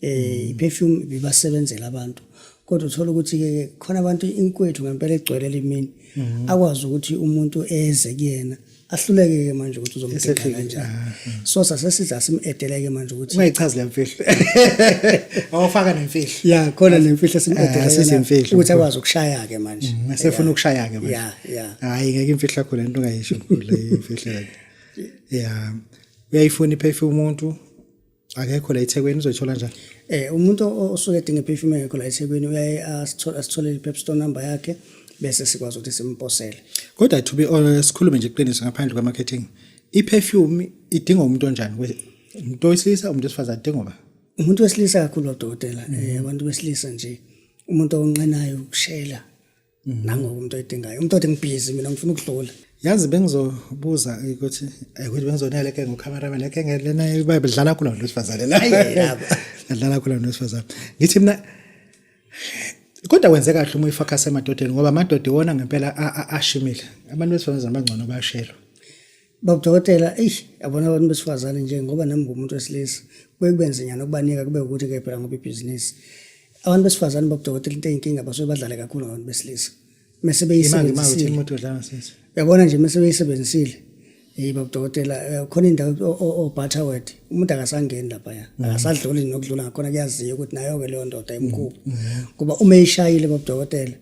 eh perfume bibasebenzela abantu kodwa uthola ukuthi ke khona abantu inkwethu ngempela egcwele limini mhm. akwazi ukuthi umuntu eze kuyena ahluleke ke manje ukuthi uzomdinga kanjani ah, ah. so sasesiza simedeleke manje ukuthi ungayichazi lemfihlo awufaka nemfihlo ya khona nemfihlo simedeleke ah, sezimfihlo ukuthi akwazi ukushaya ke manje mm, esefuna ukushaya ke manje ya ya hayi ngeke imfihlo yakho lento ungayisho le imfihlo yakhe ya uyayifuna iphephe umuntu akekho la ethekwini uzoyithola njani eh umuntu osuke edinga iperfume yakho la ethekwini uyaye asitholele i-pep store number yakhe bese sikwazi ukuthi simposele kodwa to be honest sikhulume nje iqiniso ngaphandle kwa-marketing i-perfume idinga umuntu onjani umuntu wesilisa umuntu wesifazane idinga uba umuntu wesilisa kakhulu odokotela um abantu besilisa nje umuntu onqenayo ukushela nangoku umuntu oyidingayo umuntu othi ngibhizi mina ngifuna ukudlula yazi bengizobuza ukuthi eh, ukuthi bengizonele ke ngocameraman leke lena ibayibhe dlala kula muntu wesifazane la dlala kula muntu wesifazane ngithi mina kodwa wenze kahle uma uyifocus emadodeni ngoba amadoda iwona ngempela ashimile abantu besifazane abangcono bayashelwa Babudokotela, eish, yabona abantu besifazane nje ngoba nami ngumuntu wesilisa. Kuye kube nzinyana ukubanika kube ukuthi ke phela ngoba ibhizinisi. Abantu besifazane babudokotela into eyinkinga basuke badlale kakhulu ngabantu besilisa. Mese beyisebenzisile. Imoto dlanga sisi. Yabona nje mese beyisebenzisile. Hey babudokotela, eh, khona indawo oButterworth. Umuntu akasangeni lapha ya. Mm. Akasadluli nokudlula ngakhona kuyaziwa ukuthi nayo ke leyo ndoda imkhulu. Mm. Mm. Kuba uma ishayile babudokotela.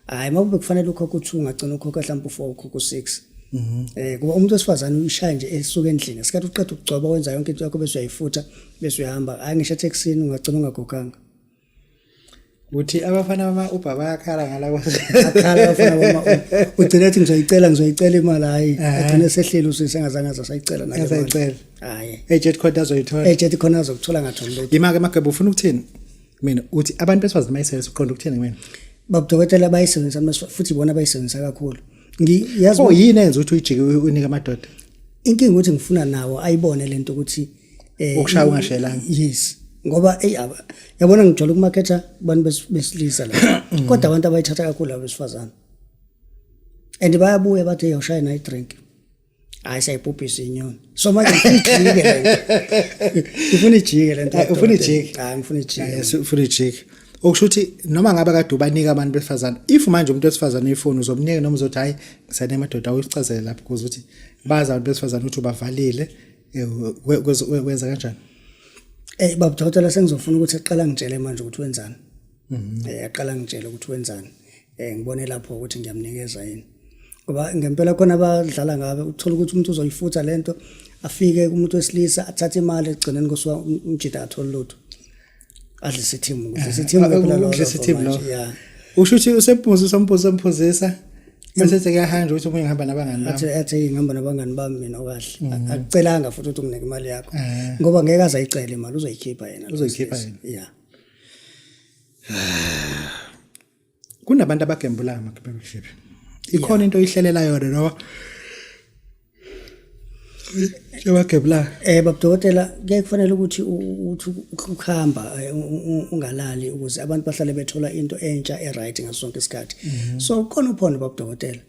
hayi uma kube kufanele ukhokhe u-two ungagcina ukhokhe mhlawumpe u-four ukhokhe u-six mhm. eh kuba umuntu wesifazane uyishaya nje esuke endlini ngesikhathi uqeda ukugcoba wenza yonke into yakho bese uyayifutha bese uyahamba hayi ngisho etheksini ungagcina ungagoganga uthi abafana bama-uber bayakhala ngalakhala abafana bama-uber ugcine ethi ngizoyicela ngizoyicela imali hhayi agcine esehleli usisi engazange aze asayicela naasayicela hhayi ejethi khona azoyithola ejethi khona azokuthola ngatholi lutho yima-ke mageba ufuna ukuthini mina uthi abantu besifazane mayisebenzisa uqonda ukuthini kumina baba dokotela bayisebenzisa futhi bona bayisebenzisa kakhulu ngiyazi oh yini enza ukuthi uyijike unika amadoda inkinga ukuthi ngifuna nawo ayibone lento ukuthi eh ukushaya ungashelanga yes ngoba ey yabona ngijwayele ukumaketha abantu besilisa la mm. kodwa abantu abayithatha kakhulu abesifazane and bayabuya bathi yawushaya nayi drink hayi sayibhubhisa inyoni so manje ngifuna ijike lento ngifuna ijike lento Eh, ufuna ijike? hayi ngifuna ijike Yes, ufuna ijiki okusho ukuthi noma ngabe kade ubanika abantu besifazane if manje umuntu wesifazane uyifuni uzomnika noma uzothi hhayi ngisane madoda uyicazele lapho kuze ukuthi bazi abantu besifazane ukuthi ubavalile eh, we- kwezo- we- wenza kanjani Eh baba dokotela sengizofuna ukuthi aqala ngitshele manje ukuthi wenzani. Eh aqala ngitshele ukuthi wenzani. Eh ngibone lapho ukuthi ngiyamnikeza yini. Ngoba ngempela khona abadlala ngabe uthola ukuthi umuntu uzoyifutha lento afike kumuntu wesilisa athathe imali egcineni kusuka umjita athole lutho. Adle sithimu, eh, sithimu eh, phela lo. Sithimu lo. Yeah. Usho ukuthi usemphuzisa, usemphuzisa, usemphuzisa. Mesese kuyahanja ukuthi umunye ngihamba nabangani bami. Athi athi ngihamba nabangani bami mina okahle. Mm. Akucelanga futhi ukuthi unginike imali yakho. Eh. Ngoba ngeke azayicela imali uzoyikhipha yena. Uzoyikhipha yena. Yeah. kunabantu abagembulayo makipemship ikhona into oyihlelela yona noma Ebagebla. Eh babudokotela kuye kufanele ukuthi uthi ukuhamba eh, ungalali ukuze abantu bahlale bethola into entsha e right ngaso sonke isikhathi. Mhm. So khona uphondo babudokotela.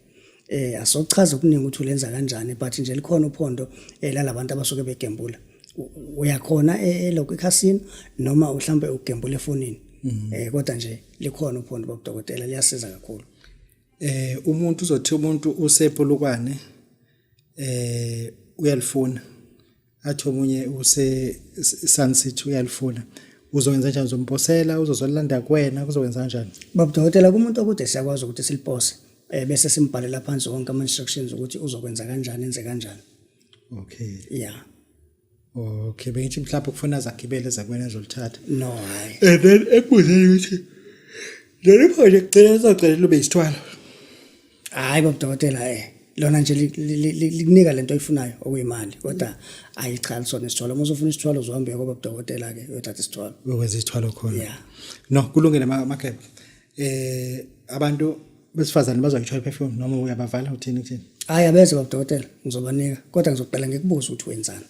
eh asochaza okuningi ukuthi ulenza kanjani but nje likhona uphondo eh, lalabantu abasuke begembula uyakhona eh, eh, lokho ekhasini noma mhlambe ugembula efonini mhm. eh kodwa nje likhona uphondo babudokotela liyasiza kakhulu eh umuntu uzothi umuntu usepolukwane eh uyalifuna athi omunye use Sun City uyalifuna uzokwenza kanjani uzomposela uzozolanda kuwena kuzokwenza kanjani baba dokotela kumuntu okude siyakwazi ukuthi silipose eh bese simbhalela phansi wonke ama instructions ukuthi uzokwenza kanjani enze kanjani okay yeah okay bengithi mhlawumbe kufuna zagibele zakwena zolithatha no hayi and then ekubuzeni ukuthi leli khona kugcina sacela lube isithwalo hayi bobudokotela um eh, lona nje likunika le nto oyifunayo okuyimali kodwa ayi cha lisona isithwalo uma usufuna isithwalo uzohambe uye kobabudokotela-ke uyothatha isithwalo uyokwenza isithwalo khona ya no kulungile makheba um abantu besifazane bazoyithola i-perfume noma uyabavala uthini kuthini hhayi abeze babudokotela ngizobanika kodwa ngizoqala ngikubuza ukuthi wenzani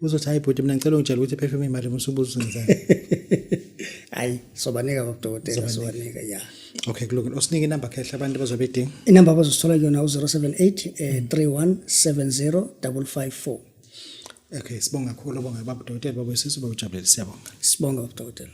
uzothi hayi bhuti mina ngicela ungitshela ukuthi perfume imali musubuza uzenzani hayi sobanika kodokotela sobanika ya okay kulungile usinike inamba khehla abantu bazobe idinga inamba bazosithola kuyona u-078 eh, 3170 554 okay sibonga kakhulu bonga babudokotela babuyisisa ubawujabulele siyabonga sibonga babudokotela